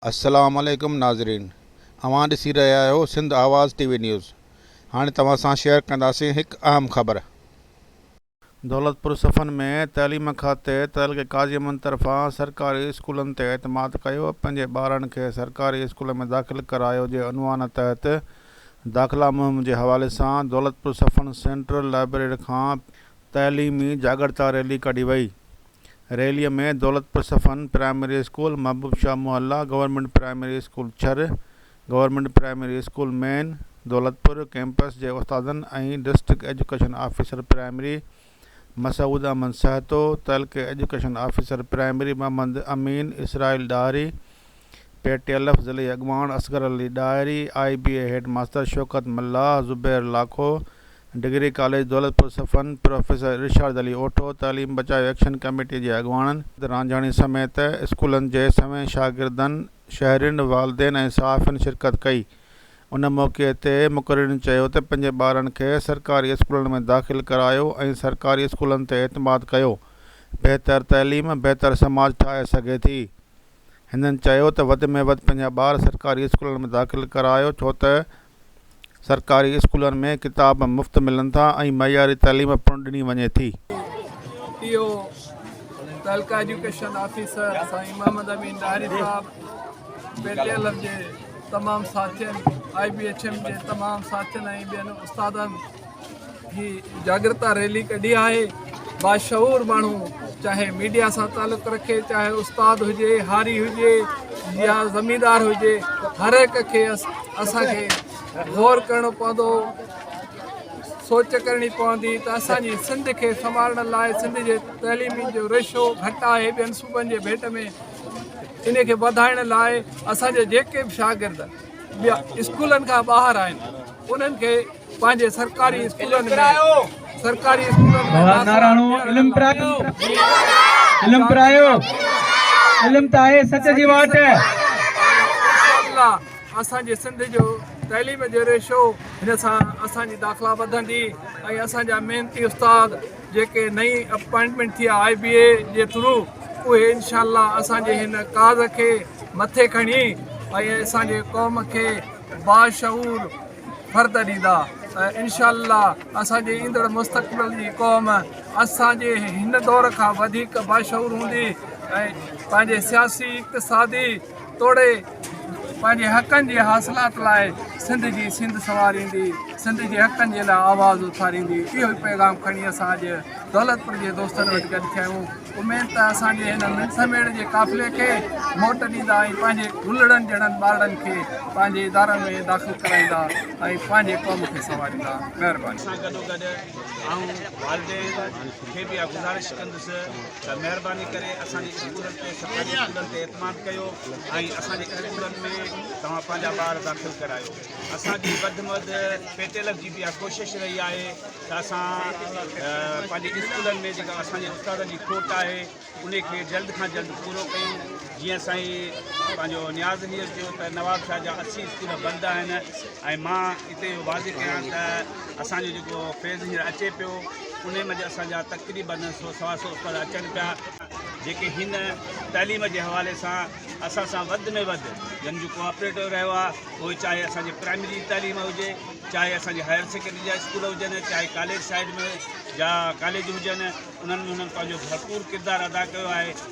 السلام عليڪم ناظرين اوهان ڏسي رهيا آهيو Sindh Awaz T V news هاڻي توهان سان شيئر ڪنداسين هڪ اهم خبر. دولتپور صفن ۾ تعليم کاتي تعلقي قاضي امن طرفان سرڪاري اسڪولن تي اعتماد ڪيو پنهنجي ٻارن کي سرڪاري اسڪول ۾ داخل ڪرايو جي عنوان تحت داخلا مهم جي حوالي سان دولتپور صفن سينٽرل لائبريري کان تعليمي جاڳرتا ريلي ڪڍي وئي. ريلي ۾ دولتپور صفن پرائمري اسڪول، محبوب شاهه محلا، گورنمينٽ پرائمري اسڪول ڇر، government primary school main Daulatpur campus جي استادن ۽ district education officer primary Masood Ahmed Sahito, تعلقي education officer primary Muhammad Amin, Israel Dahri, P T L F ضلعي اڳواڻ Asghar Ali Dahri, I B A head master Shaukat Mallah, Zubair Lakho, degree college Daulatpur Safan, professor Irshad Ali Otho, تعليم بچايو ايڪشن ڪميٽي جي اڳواڻن، رانجهاڻي سميت اسڪولن جي سوين شاگردن، شهرين، والدين ۽ صحافين شرڪت ڪئي. ان موقعي تي مقررين چيو ته پنهنجي ٻارن کي سرڪاري اسڪولن ۾ داخل ڪرايو ۽ سرڪاري اسڪولن تي اعتماد ڪيو، بهتر تعليم بهتر سماج ٺاهي سگهي ٿي. هنن چيو ته وڌ ۾ وڌ پنهنجا ٻار سرڪاري اسڪولن ۾ داخل ڪرايو ڇو ته سرڪاري اسڪولن ۾ ڪتاب مفت ملن ٿا ۽ معياري تعليم پڻ ڏني وڃي ٿي. اي او تعلقه ايجوڪيشن آفيسر سائين محمد امين ڏاهري صاحب، پي ٽي ايل ايف جي تمام ساٿين، آء بي ايڇ ايم جي تمام ساٿين ۽ ٻين استادن هي جاڳرتا ريلي ڪڍي آهي. باشعور ماڻهو چاهي ميڊيا سان تعلق رکي، چاهي استاد هجي، هاري هجي يا زميندار هجي هر هڪ کي اسان کي غور ڪرڻو پوندو، سوچ ڪرڻي پوندي ته اسان جي سنڌ کي سنڀالڻ لاء سنڌ جي تعليم جو رشو گهٽ آهي، ٻين صوبن جي ڀيٽ ۾ ان کي وڌائڻ لاء اسان جا جيڪي به شاگرد اسڪولن کان ٻاهر آهن انهن کي پنهنجي سرڪاري اسڪولن ۾ سرڪاري اسڪولن ۾ اسان جي سنڌ جو تعليم جو ريشو هن سان اسان جي داخلا وڌندي ۽ اسان جا محنتي استاد جيڪي نئين اپائنٽمينٽ ٿي آهي آء بي اي جي ٿرو اهي انشاء الله اسان جي هن ڪاز کي مٿي کڻي ۽ اسان جي قوم کي باشعور فرد ڏيندا انشاء الله اسان جي ايندڙ مستقبل جي قوم اسان جي هن دور کان وڌيڪ باشعور هوندي ۽ پنهنجي سياسي اقتصادي توڙي پنهنجي حقن جي حاصلات لاء سنڌ جي سينڌ سنواريندي، سنڌ جي حقن جي لاء آواز اٿاريندي، اهو ئي پيغام کڻي اسان اڄ دولتپور جي دوستن وٽ گڏ ٿيا آهيون. اميد ته اسان جي هن منسي ميڙ جي قافلي کي موٽ ڏيندا ۽ پنهنجي گلڙن جهڙن ٻارڙن کي پنهنجي ادارن ۾ داخل ڪرائيندا ۽ پنهنجي قوم کي سنواريندا. مهرباني. سان گڏوگڏ آئون والدين کي به اها گذارش ڪندس ته مهرباني ڪري اسان جي اسڪولن تي سرڪاري اسڪولن تي اعتماد ڪيو ۽ اسان جي اسڪولن ۾ توهان پنهنجا ٻار داخل ڪرايو اسان جي وڌ ۾ وڌ پي ٽي ايل جي به اها ڪوشش رهي آهي ته اسان پنهنجي اسڪولن ۾ جيڪا اسان جي استادن جي کوٽ آهي ان کي جلد کان جلد پورو ڪيون جيئن سائين پنهنجو نياز هيئر چيو ته نواب شاهه جا اسي اسڪول بند آهن ۽ مان هتي واضح ڪيان ته اسان جو جيڪو فيز هينئر اچي پيو انهيء منجهه اسان جا تقريباً سو سوا سو استاد اچن پيا، جيڪي هن تعليم جي حوالي سان اسان سان وڌ ۾ وڌ جن جو ڪوآپريٽو رهيو آهي، پوء چاهي اسان جي پرائمري جي تعليم هجي، چاهي اسان جي هائر سيڪنڊري جا اسڪول هجن، چاهي ڪاليج سائيڊ ۾ جا ڪاليج هجن، انهن ۾ هنن پنهنجو ڀرپور ڪردار ادا ڪيو آهي.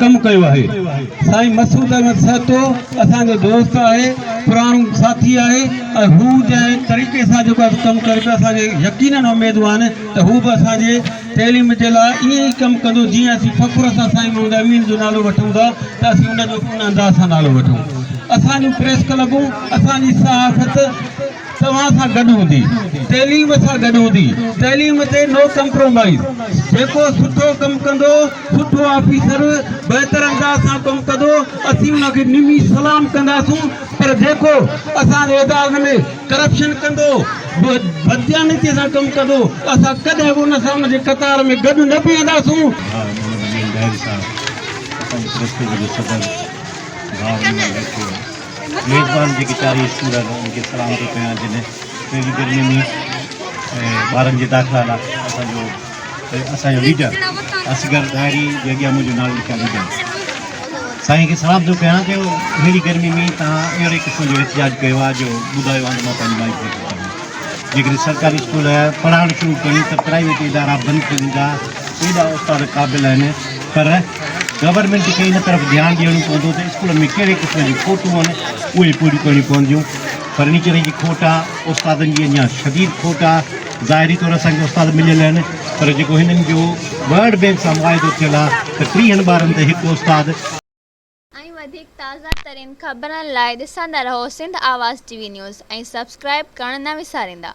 ڪم ڪيو آهي سائين مسعود احمد سهتو اسان جو دوست آهي پراڻو ساٿي آهي ۽ هو جنهن طريقي سان جيڪو ڪم ڪري پيو اسان کي يقينن اميدون آهن ته هو به اسان جي تعليم جي لاء ائين ئي ڪم ڪندو جيئن اسين فخر سان سائين محمد امين جو نالو وٺون ٿا ته اسين ان جو ان انداز سان نالو وٺون اسان جون پريس ڪلبون اسان جي صحافت توهان سان گڏ هوندي، تعليم سان گڏ هوندي، تعليم تي نو ڪمپرومائيز، جيڪو سٺو ڪم ڪندو، سٺو آفيسر بهتر انداز سان ڪم ڪندو، اسين ان کي نمي سلام ڪنداسون، پر جيڪو اسان جي ادارن ۾ ڪرپشن ڪندو، بدديانتي سان ڪم ڪندو، اسان ڪڏهن به ان سان ان جي قطار ۾ گڏ نه بيهنداسون. ميزبان جيڪي چارئي اسڪول آهن انهن کي سلام ٿو ڪيان جن اهڙي گرمي ۾ ٻارن جي داخلا لاء اسان جو اسان جو ليڊر اصغر ڏاهري جي اڳيان منهنجو نالو لکيان ليڊر سائين کي سلام ٿو ڪيان جو اهڙي گرمي ۾ تان اهڙي قسم جو احتجاج ڪيو آهي جو ٻڌايو آهي ته مان پنهنجي مائٽ ۾ ٿو چوان جيڪڏهن سرڪاري اسڪول پڙهائڻ شروع ڪن ته پرائيويٽ ادارا بند ٿي ويندا، ايڏا استاد قابل آهن پر گورنمينٽ کي ان طرف ڌيان ڏيڻو پوندو ته اسڪولن ۾ ڪهڙي قسم جون کوٽون آهن اهي پوريون ڪرڻيون پونديون، فرنيچر جي کوٽ آهي، استادن جي اڃا شديد کوٽ آهي، ظاهري طور اسان کي استاد مليل آهن پر جيڪو هنن جو ورلڊ بئنڪ سان معاهدو ٿيل آهي ته ٽيهن ٻارن تي هڪ استاد. ۽ وڌيڪ تازه ترين خبرن لاء ڏسندا رهو Sindh Awaz T V news ۽ subscribe ڪرڻ نه وساريندا.